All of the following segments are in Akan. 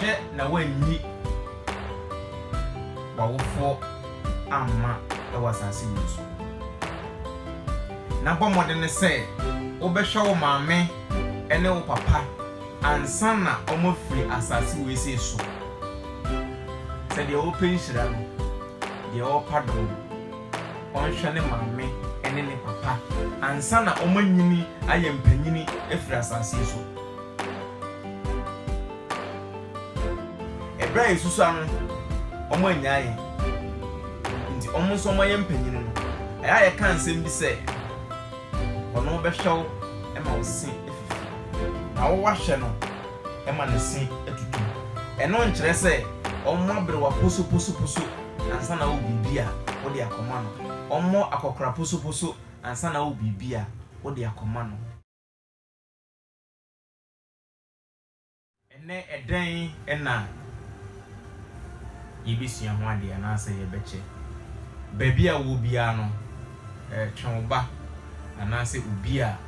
Hwɛ na woanyi w'awofoɔ amma wɔ asase wei so, na bɔ mmɔdene sɛ wobɛhwɛ wo maame ne wo papa ansa na wɔafiri asase wei sei so. Sɛ deɛ wɔpɛ nhyira no, deɛ wɔpa dom. ɔnhwɛ ne maame ne ne papa ansa na wɔanyini ayɛ mpanyin afiri asase yi so. Ɛberɛ a yɛsusua no, wɔannyaa yɛn, nti wɔn nso wɔayɛ mpanyin no, ɛyɛ a yɛka nsɛm bi sɛ, Ɔno bɛhwɛ wo ma wo se afifi, na wo wahwɛ no ma ne se atutu. Ɛno nkyerɛ sɛ wɔabere wo aposoposoposo. ansa na wo biribi a wo de akɔma no. Ɔmmɔ akɔkora posoposo ansa na wo biribi a wo de akɔma no. Ɛnnɛ, ɛdɛn na yebesua ho ade anaasɛ yɛbɛkyɛ? Baabi a wowɔ biara no, twe wo ba anaasɛ obi a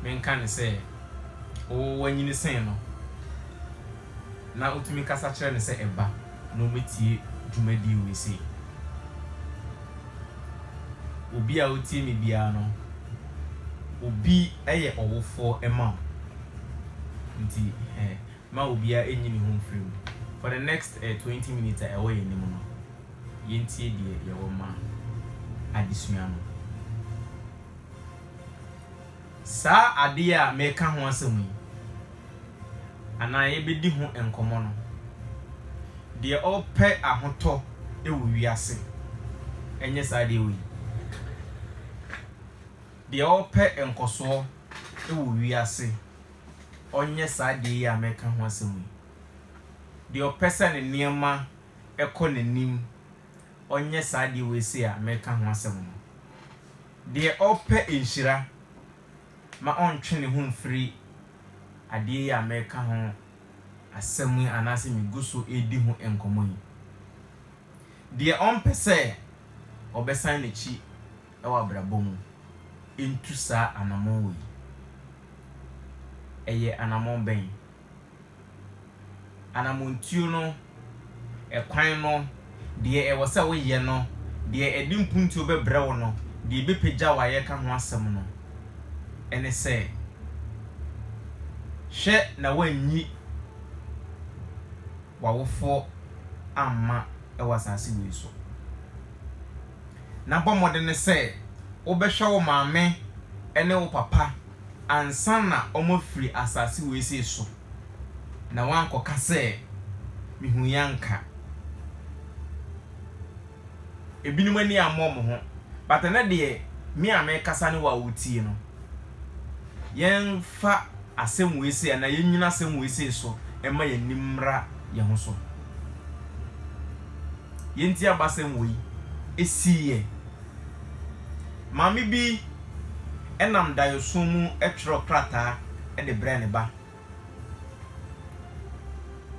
menka no sɛ wanyini sen no. na wotumi kasa kyerɛ no sɛ ɛba na ɔmmɛtie dwumadie wei sei. Obi a ɔtie me biara no, obi yɛ ɔwofoɔ ma wo. Nti eh, ma obiara ɛnyi ne ho mfiri mu. For the next eh, 20 minutes a ɛwɔ yɛn anim no, yɛntie deɛ yɛwɔ ma adesua no. Saa adeɛ a mereka ho asɛm yi, anaa yɛbɛdi ho nkɔmmɔ no, deɛ ɔpɛ ahotɔ wɔ wiase, ɛnyɛ saa deɛ wei. Deɛ ɔpɛ nkɔsoɔ wɔ wiase, ɔnyɛ saa deɛ yi a mereka ho asɛm yi. Deɛ ɔpɛ sɛ ne nneɛma kɔ n'anim ɔnyɛ saa adeɛ wei sei a mereka ho asɛm no. Deɛ ɔpɛ nhyira ma ɔntwe ne ho mfiri adeɛ yi a mereka ho asɛm yi anaasɛ megu so redi ho nkɔmmɔ yi. Deɛ ɔmpɛ sɛ ɔbɛsan n'akyi wɔ abrabɔ mu ntu saa anammɔn wei. Ɛyɛ anammɔn bɛn? anamɔntuo no, ɛkwan no, deɛ ɛwɔ sɛ woyɛ no, deɛ ɛde mpuntuo bɛbrɛ wo no, deɛ ɛbɛpagya wo a yɛreka ho asɛm no, ɛne sɛ, hwɛ na woanyi w'awofoɔ amma wɔ asase wei so. na bɔ mmɔden sɛ wobɛhwɛ wo maame ne wo papa ansa na wɔafiri asase wesee so, na woankɔka sɛ, 'Mihui anka. Ebinom ani ammɔ wɔn ho, but ɛnnɛ deɛ, me a merekasa ne wo a woretie no. yɛmfa asɛm wei sei anaa yɛnnyina asɛm wei sei so mma yɛn ani mmra yɛn ho so. Yɛn ti abasɛm wei siiɛ. Maame bi nam daeɛso mu twerɛɛ krataa de brɛɛ ne ba.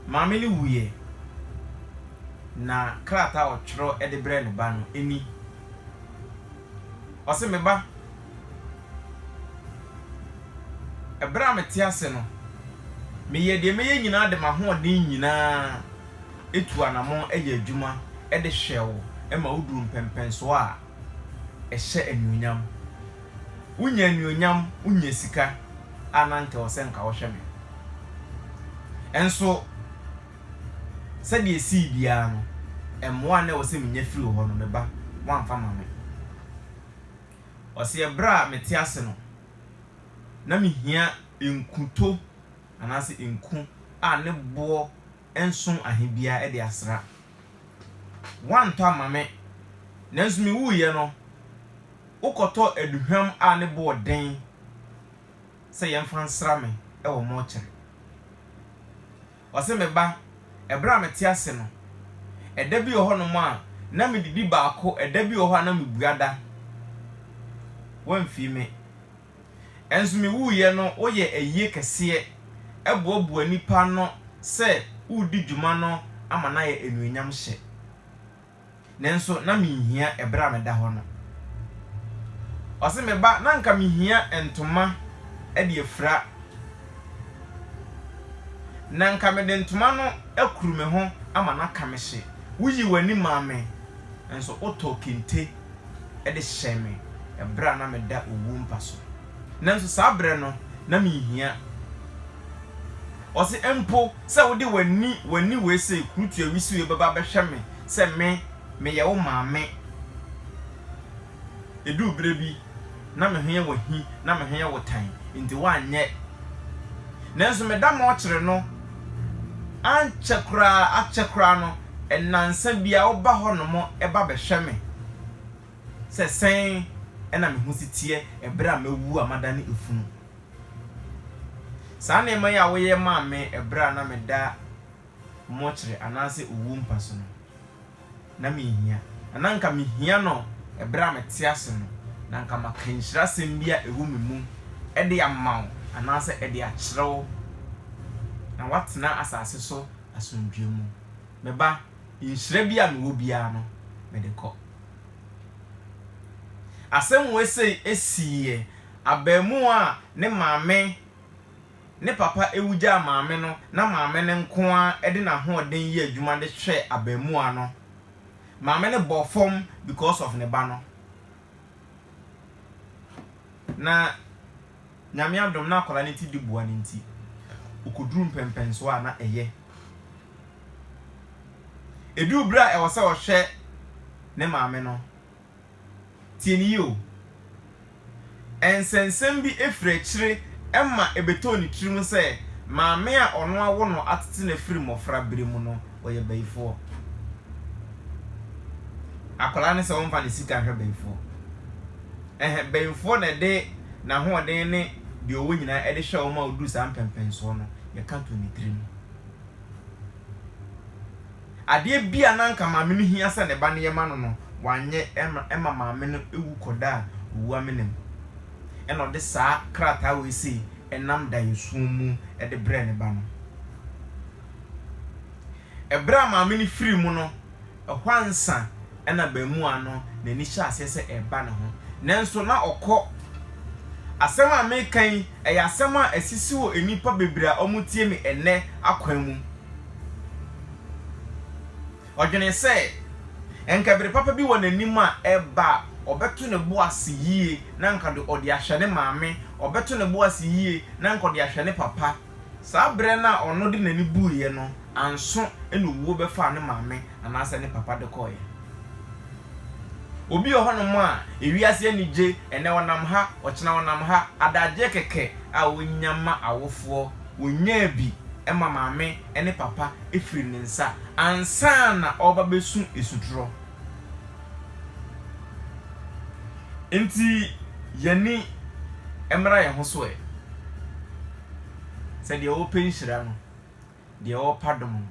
Maame no wuiɛ, na krataa a ɔtwerɛ de brɛɛ ne ba no ni, ɔse, Me ba, Bere a mete ase no, meyɛ deɛ mɛyɛ nyinaa de m'ahoɔden nyinaa tu anammɔn yɛ adwuma de hwɛ wo ma woduru mpɛnpɛnsoɔ a ɛhyɛ anuonyam. Wonya anuonyam, wonya sika a na anka ɛwɔ sɛ anka wohwɛ me. Nso sɛdeɛ ɛsii biara no, mmoa a na ɛwɔ sɛ menya firi wo hɔ no, me ba, woamfa ma me. Ɔseɛ, Berɛ a mete ase no, na mehia nkuto anaasɛ nku a ne boɔ nso ahe biara de asra. Woantɔ ama me, nanso mewuiɛ no, wokɔtɔ aduhwam a ne boɔ den sɛ yɛmfa nsra me wɔ mɔɔkyere. Ɔse, Me ba, ɛberɛ a mete ase no, ɛda bi wɔ hɔnom a na medidi baako, ɛda bi wɔ hɔ a na mebua da. Woamfii me. Nso mewuiɛ no woyɛ ayie kɛseɛ boaboa nnipa ano sɛ woredi dwuma no ama no ayɛ anuonyamhyɛ. Nanso na minhia ɛberɛ a meda hɔ no. Ɔse, Me ba, na anka mehia ntoma de afira. Na anka mede ntoma no akuru me ho ama no aka me hye. Woyii w'ani maa me, nanso wotɔɔ kente de hyɛɛ me ɛberɛ a na meda owuo mpa so. Nanso saa berɛ no, na menhia. Ɔse, Mpo sɛ wode w'ani, w'ani wei sei, kurutua wisiw yi bɛba bɛhwɛ me sɛ me, meyɛ wo maame. Eduu berɛ bi, na me ho yɛ wo ahi, na me ho yɛ wo tan, enti woanyɛ. Nanso me da mɔɔkyere no, ankyɛ koraa, akyɛ koraa no, nnansa biara woba hɔnom ba bɛhwɛ me sɛ sɛn na me ho si teɛ berɛ a mawu a madane efunu. Saa nneɛma yi a woyɛ maa me ɛberɛ a na meda mɔkyerɛ anaasɛ owuo mpa so no, na menhia. Na na anka mehia no ɛberɛ a mete ase no, na anka maka nhyirasɛm bi a ɛwɔ me mu de ama wo anaasɛ de akyerɛ wo, na woatena asase so asomdwoeɛ mu. Me ba, nhyira bi a mewɔ biara no, mede kɔ. Asɛm wei sei siiɛ. abarimaa a ne maame ne papa wu gyaa maame no na maame no nko ara de n'ahoɔden yɛ adwuma de hwɛ abarimaa no. Maame no bɔ fam because of ne ba no. Na Nyame adom na akwadaa no ti di boa no nti ɔkɔduru mpɛnpɛnsoɔ a na ɛyɛ. Ɛduru berɛ a ɛwɔ sɛ ɔhwɛ ne maame no, Tie no yie o. Nsɛnsɛm bi firi akyire ma ɛbɛtoo ne tirim sɛ maame a ɔno awo no atete no firi mmɔfra berɛ mu no, ɔyɛ bayifoɔ. Akwadaa no sɛ ɔmfa ne sika nhwɛ bayifoɔ. Ɛhɛ, bayifoɔ na ɛde n'ahoɔden ne deɛ ɔwɔ nyinaa de hwɛ wɔn a wɔduru saa mpɛmpɛnsoɔ no, yɛka too ne tirim. Adeɛ bi a na anka maame no hia sɛ ne ba no yɛ ma no no, wanyɛ ma maame no wu kɔdaa owu amena mu. Ɛnna ɔde saa krataa wei sei nam daeɛso mu de brɛɛ ne ba no. Ɛberɛ a maame no firii mu no, ɛhɔ ansa, na abaamua no n'ani hyɛ aseɛ sɛ ɛreba ne ho, nanso na ɔkɔ. Asɛm a mereka yi, ɛyɛ asɛm a asisi wɔ nnipa bebree a wɔtie me ɛnnɛ akwan mu. Ɔdwenee sɛ, anka bere papa bi wɔ n'anim a ɛreba a, ɔbɛto ne bo ase yie na anka ɔde ahwɛ ne maame, ɔbɛto ne bo ase yie na anka ɔde ahwɛ ne papa. Saa berɛ no a ɔno de n'ani buuiɛ no anso na owuo bɛfaa ne maame anaasɛ ne papa de kɔeɛ. Obi wɔ hɔnom a, ewiase ani gye, ɛnnɛ ɔnam ha, ɔkyena ɔnam ha, adagyeɛ kɛkɛ a ɔnya ma awofoɔ, ɔnyaa bi ma maame ne papa firi ne nsa ansa na ɔreba bɛsu asutorɔ. Enti yɛn ani mmra yɛn ho so ɛ. Sɛ deɛ ɔrepɛ nhyira no, deɛ ɔrepa dom no,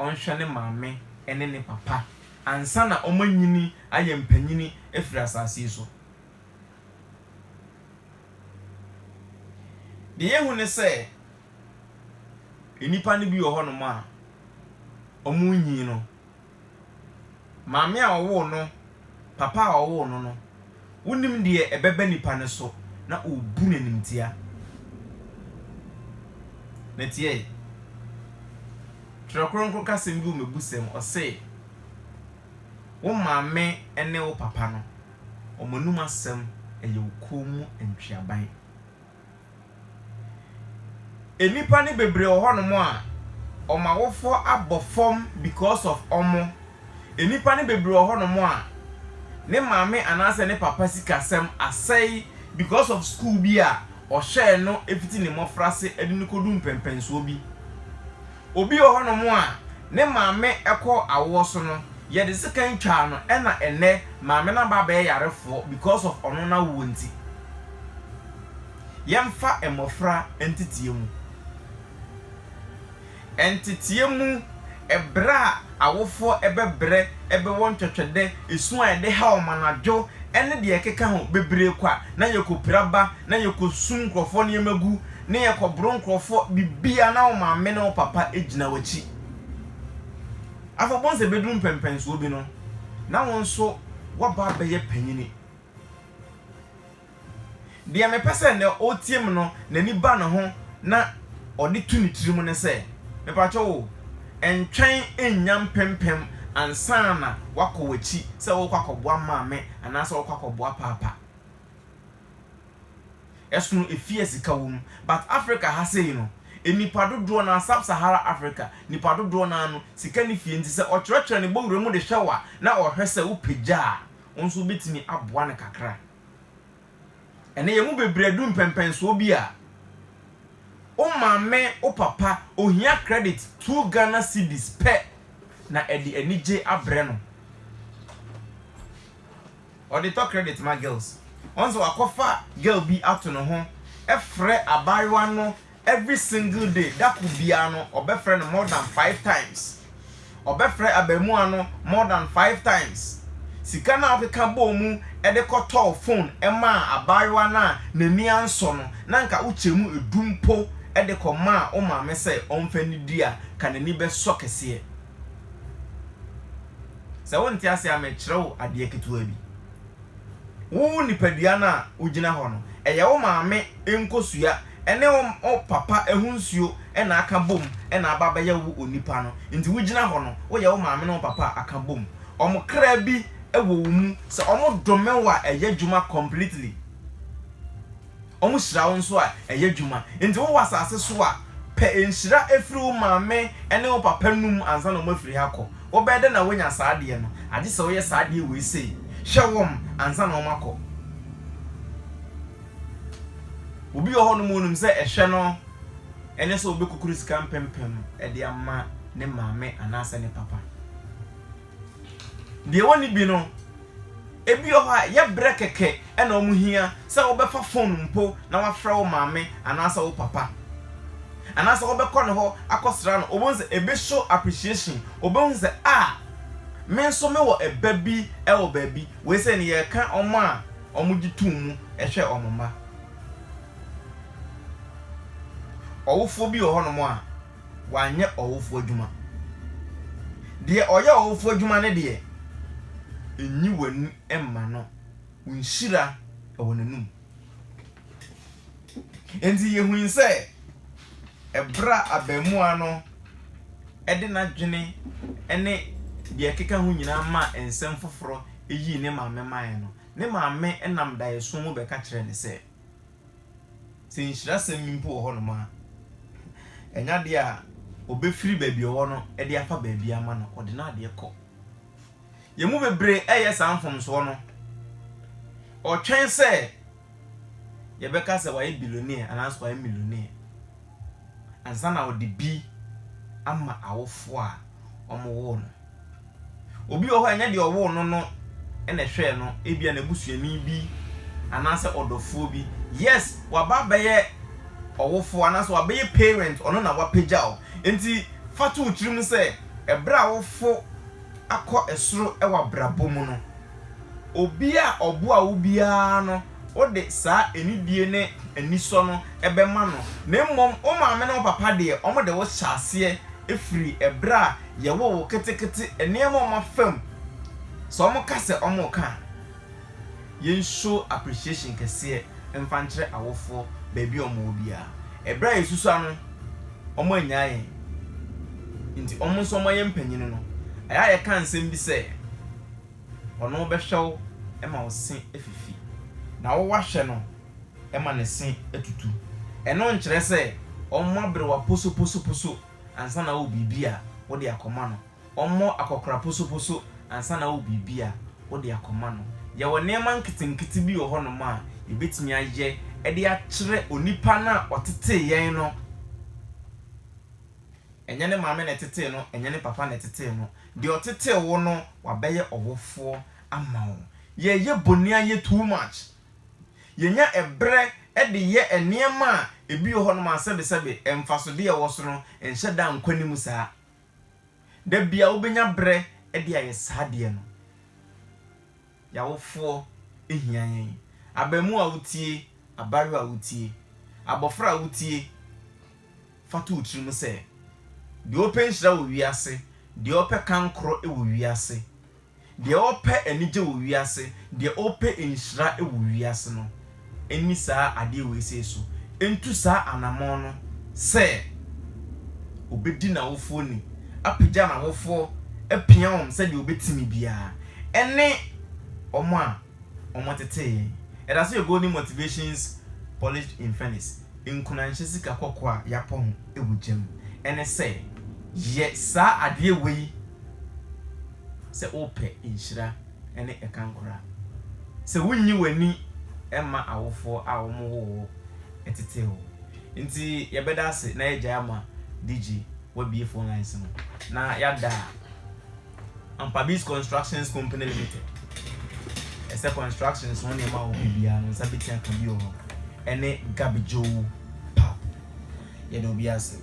ɔnhwɛ ne maame ne ne papa ansa na wɔanyini ayɛ mpanyini afiri asase yi so. Deɛ yɛhu ne sɛ, nnipa no bi wɔ hɔnom a, wɔrenyin no, Maame a ɔwoo no, papa a ɔwoo no no, wonim deɛ ɛbɛba nipa no so na ɔrebu no animtia. Na tie, Twerɛ Kronkron ka asɛm bi wɔ Mmebusɛm, ɔse, Wo maame ne wo papa no, wɔn anom asɛm yɛ wo kɔn mu ntweaban. Nnipa no bebree wɔ hɔnom a wɔn awofoɔ abɔ fam because of wɔn. Nnipa no bebree wɔ hɔnom a ne maame anaasɛ ne papa sikasɛm asɛe because of sukuu bi a ɔhwɛɛ no fiti ne mmɔfrase de no kɔduu mpɛnpɛnsoɔ bi. Obi wɔ hɔnom a ne maame kɔ awoɔ so no, yɛde sekan twaa no ɛna ɛnnɛ maame no aba abɛyɛ yarefoɔ because of ɔno n'awoɔ nti. Yɛmfa mmɔfra nteteɛ mu. Nteteɛ mu berɛ a awofoɔ bɛbrɛ bɛ wɔ ntwɛtwɛdɛ, su a yɛde ha wɔn anadwo ne deɛ ɛkeka ho bebree kwa na yɛkɔpira ba na yɛkɔsum nkurɔfoɔ nneɛma gu ne yɛkɔboro nkurɔfoɔ biribiara na wo maame ne wo papa gyina w'akyi. Afei wobɛhu sɛ bɛduru mpɛnpɛnsoɔ bi no na wo nso woaba abɛyɛ panyini. Deɛ mepɛ sɛ nea ɔretie me no n'ani ba ne ho na ɔde to ne tirim ne sɛ, mepakyɛw o, ntwɛn nnya mpempem ansa na woakɔ w'akyi sɛ worekɔ akɔboa maame anaasɛ worekɔ akɔboa paapa. Ɛsono efie a sika wom. But Africa ha sei no, nnipa dodoɔ no ara, Sub-Sahara Africa, nnipa dodoɔ no ara no, sika nni fie nti sɛ ɔkyerɛkyerɛ ne bɔwura mu de hwɛ wo a, na ɔhwɛ sɛ wopagya a, wo nso wobɛtumi aboa no kakra. Ɛnnɛ yɛn mu bebree adu mpɛmpɛnsoɔ bi a, wo maame, wo papa, ohia credit two Ghana cedis pɛ na ɛde anigye abrɛ no. Ɔde tɔ credit ma girls. Ɔn sɛ wakɔfa girl bi ato ne ho frɛ abaayewa no Every single day, da kor biara no, ɔbɛfrɛ no more than five times. Ɔbɛfrɛ abarimaa no more than five times. Sika no a ɔkeka bɔɔ mu de kɔtɔɔ phone maa abaayewa no a n'ani ansɔ no, na anka wokyɛ mu du mpo de kɔmaa wo maame sɛ ɔmfa nnidi a, anka n'ani bɛsɔ kɛseɛ. Sɛ wonte aseɛ a, merekyerɛ wo adeɛ ketewa bi. Wo nipadua no a wogyina hɔ no, ɛyɛ wo maame nkosua. Ɛne wo wo papa ho nsuo na aka bom na aba abɛyɛ wo onipa no. Nti wogyina hɔ no, woyɛ wo maame ne wo papa a aka bom. Wɔn kra bi wɔ wo mu. Sɛ wɔdome wo a, ɛyɛ adwuma completely. Wɔhyira wo nso a, ɛyɛ adwuma. Nti wowɔ asase so a, pɛ nhyira firi wo maame ne wo papa nom ansa na wɔafiri ha akɔ. Wobɛyɛ dɛn na woanya saa adeɛ no? Agye sɛ woyɛ saa adeɛ wei sei, hwɛ wɔn ansa na wɔakɔ. Obi wɔ hɔnom onim sɛ ɛhwɛ no ne sɛ ɔbɛkukuru sika mpempem de ama ne maame anaasɛ ne papa. Deɛ wɔnni bi no, ebi wɔ hɔ a ɛyɛ berɛ kɛkɛ na wɔhia sɛ wobɛfa fon mpo na wafrɛ wo maame anaasɛ wo papa. Anaasɛ wobɛkɔ ne hɔ akɔsra no, wobɛhu sɛ ɛbɛ show appreciation, wobɛhu sɛ ah, me nso mewɔ ɛba bi wɔ baabi. Wei sɛ no yɛreka wɔn a wɔgye tom mu hwɛ wɔn mma. Ɔwofoɔ bi wɔ hɔnom a, wanyɛ ɔwofoɔ adwuma. Deɛ ɔyɛ ɔwofoɔ adwuma no deɛ, nyi w'ani mma no, wo nhyira wɔ n'anom. Enti yehui sɛ bere a abarimaa no de n'adwene ne nea ɛkeka ho nyinaa maa nsɛm foforo yii ne maame mae no, ne maame nam daeɛso mu bɛka kyerɛɛ no sɛ, Sɛ nhyirasɛm bi mpo wɔ hɔnom a, ɛnyɛ ade a obefiri baabi a ɔwɔ no de afa baabi ama no, ɔde n'adeɛ kɔ. Yɛn mu bebree reyɛ saa mfomsoɔ no. Ɔtwɛn sɛ. yɛbɛka sɛ wayɛ bilionea anaasɛ wayɛ milionea ansa na ɔde bi ama awofo a wɔwoo no. Obi wɔ hɔ a ɛnyɛ deɛ ɔwoo no no na ɛhwɛɛ no, ebia n'abusuani bi anaasɛ ɔdɔfoɔ bi. Yes, waba abɛyɛ ɔwofo anaasɛ wabɛyɛ parent, ɔno na wapagya wo. Enti fa to wo tirim sɛ ɛberɛ a awofo akɔ soro wɔ abrabɔ mu no, Obi a ɔboa wo biara no, wode saa anidie ne anisɔ no bɛma no. Na mmom, wo maame ne wo papa deɛ, wɔde wo hyɛ aseɛ firi ɛberɛ a yɛwoo wo ketekete, nneɛma a wɔafa mu, sɛ wɔka sɛ wɔreka a, yɛn show appreciation kɛseɛ mfa nkyerɛ awofoɔ baabi a wɔwɔ biara. Ɛberɛ a yɛsusua no, wɔannyaa yɛn, nti wɔn nso wɔayɛ mpanin no, ɛyɛ a yɛka nsɛm bi sɛ. Ɔno bɛhwɛ wo ma wo se afifi, na wo woahwɛ no ma ne se atutu. Ɛno nkyerɛ sɛ ɔmmɔ aberewa posoposoposo ansa na wowɔ biribi a wode akɔma no. Ɔmmɔ akɔkora posoposo ansa na wowɔ biribi a wode akɔma no. Yɛwɔ nneɛma nketenkete bi wɔ hɔnom a yɛbɛtumi ayɛ de akyerɛ onipa no a ɔtetee yɛn no. Ɛnyɛ ne maame na ɛtetee no, ɛnyɛ ne papa na ɛtetee no. Deɛ ɔtetee wo no, wabɛyɛ ɔwofoɔ ama wo. Yɛyɛ boniayɛ too much. Yɛnya ɛberɛ de yɛ nneɛma a ebi wɔ hɔnom a sɛbesɛbe mfasodeɛ a ɛwɔ so no nhyɛ da nkɔ anim saa. Da biara wobɛnya berɛ de ayɛ saa adeɛ no. Y'awofoɔ hia yɛn. Abaamua wotie, abaayewa wotie, abɔfra wotie, fa to wo tirim sɛ, deɛ ɔpɛ nhyira wɔ wiase, deɛ ɔpɛ kankorɔ wɔ wiase, deɛ ɔpɛ anigye wɔ wiase, deɛ ɔpɛ nhyira wɔ wiase no, nni saa adeɛ wei sei so ntu saa anamɔn no sɛ ɔbɛdi n'awofoɔ ni, apagya n'awofoɔ, apia wɔn sɛdeɛ ɔbɛtumi biara, ɛne wɔn a wɔtetee yɛn. Yɛda ase wɔ Golden Motivations Polished in Furnace, Nkunanhyɛ Sika Kɔkɔɔ a Yɛapɔ ho wɔ Gya mu, ɛne sɛ yɛ saa adeɛ wei sɛ worepɛ nhyira. ne ɛka nkora. Sɛ wunyi w'ani mma awofoɔ a wɔwoo wo tetee wo nti yɛbɛda ase na yɛagyae ama DG wabue phone lines no na yɛada Ampabiz Constructions Company Limited ɛsɛ constructions ho nneɛma a wɔpɛ biara no nsa bɛtumi aka bi wɔ hɔ ɛne Gabidjoo Pub yɛda obi ase.